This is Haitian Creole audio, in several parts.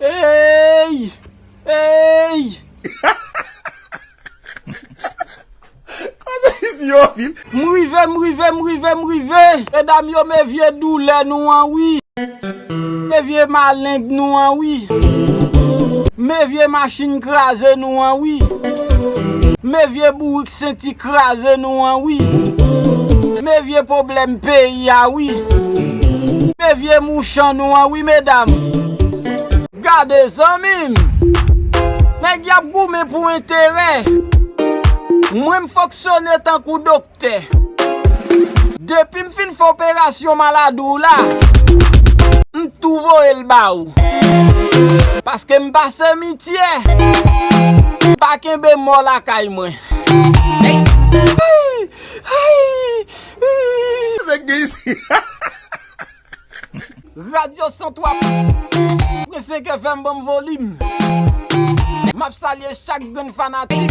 Eyy eyy. M rive m rive m rive m rive. Medam yo me vye doulè nou an wi. Me vye maleng nou an wi. Me vye machin kraze nou an wi. Me vye bourik. Senti kraze nou an wi. Men vye pwoblèm peyi a wi. Men vye mouchan nou an wi medam. Gade zanmi m. Nèg y ap goumen pou enterè. Mwen m fonksyone tankou doktè. Depi m fin fè operasyon maladi w la, m tou voye l ba ou. Paske m pa semityè. M pa kenbe mò lakay mwen. Radyo 103 pwen 5 FM banm volim. Map salye chak grenn fanatik.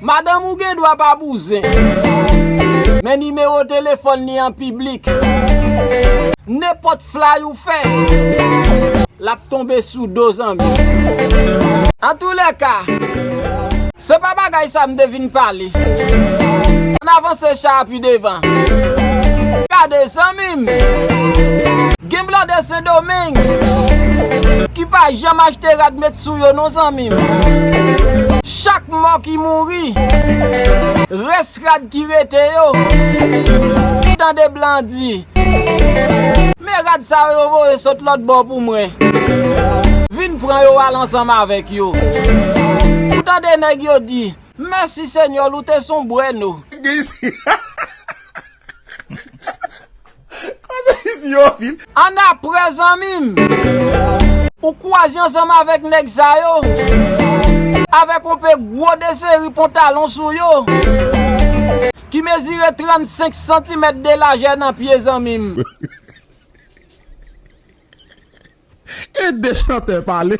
Madanm ou gen dwa pa bouzen. Men nimewo telefòn li an piblik. Nenpòt flay ou fè. Lap tonbe sou do zanmi. Antoulèka. Se pa bagay sa m te vin pale. Ann avanse cha a pi devan. Gade zanmi m. Gen blòdè sendomeng. Ki pa janm achte rad met sou yo non zanmi m. Chak mò ki mouri. Rès rad ki rete yo. Ou tande blan an di. Men rad sa yo yo voye sot lòt bò pou mwen. Vin pran yo al ansanm avèk yo. Ou tande nèg yo di. Mèsi Senyòl ou te son bwèno. Annapre zanmi m. Ou kwaze ansanm avèk nèg sa yo. Avèk yon pe gwo deseri pontalon sou yo. Ki mezire 35 santimèt de lajè nan pye zanmi m. Ede chantè pale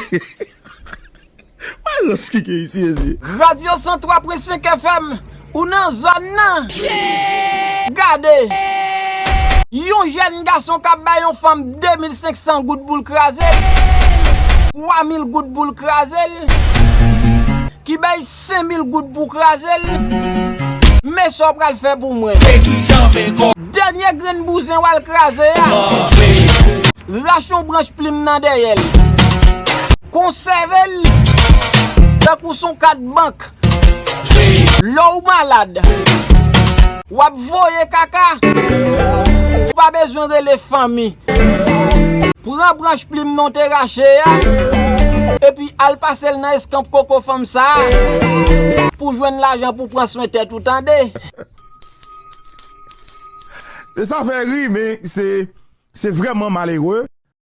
Mayo skike isi mezye. Radio 103 pwen 5 FM ou nan zòn nan. Gade! Yon jèn gason kap bay yon fanm 2500 goud poul krazel, 3000 goud poul krazel, ki bay 5000 goud pou krazel, men sa w pral fè pou mwen. Dènye grenn bouzen wal kraze a. Rache yon branch plim nan dèyè l. Konsève l tankou son kat bank. Lè w malad. W ap voye kaka. Ou pa bezwen rele fanmi. Pran branch plim nan w te rache a. Epi al pase l nan eskanp koko fanm sa a. Pou jwenn lajan pou pran swen tèt ou tande. Sa fè ri men se vreman malere.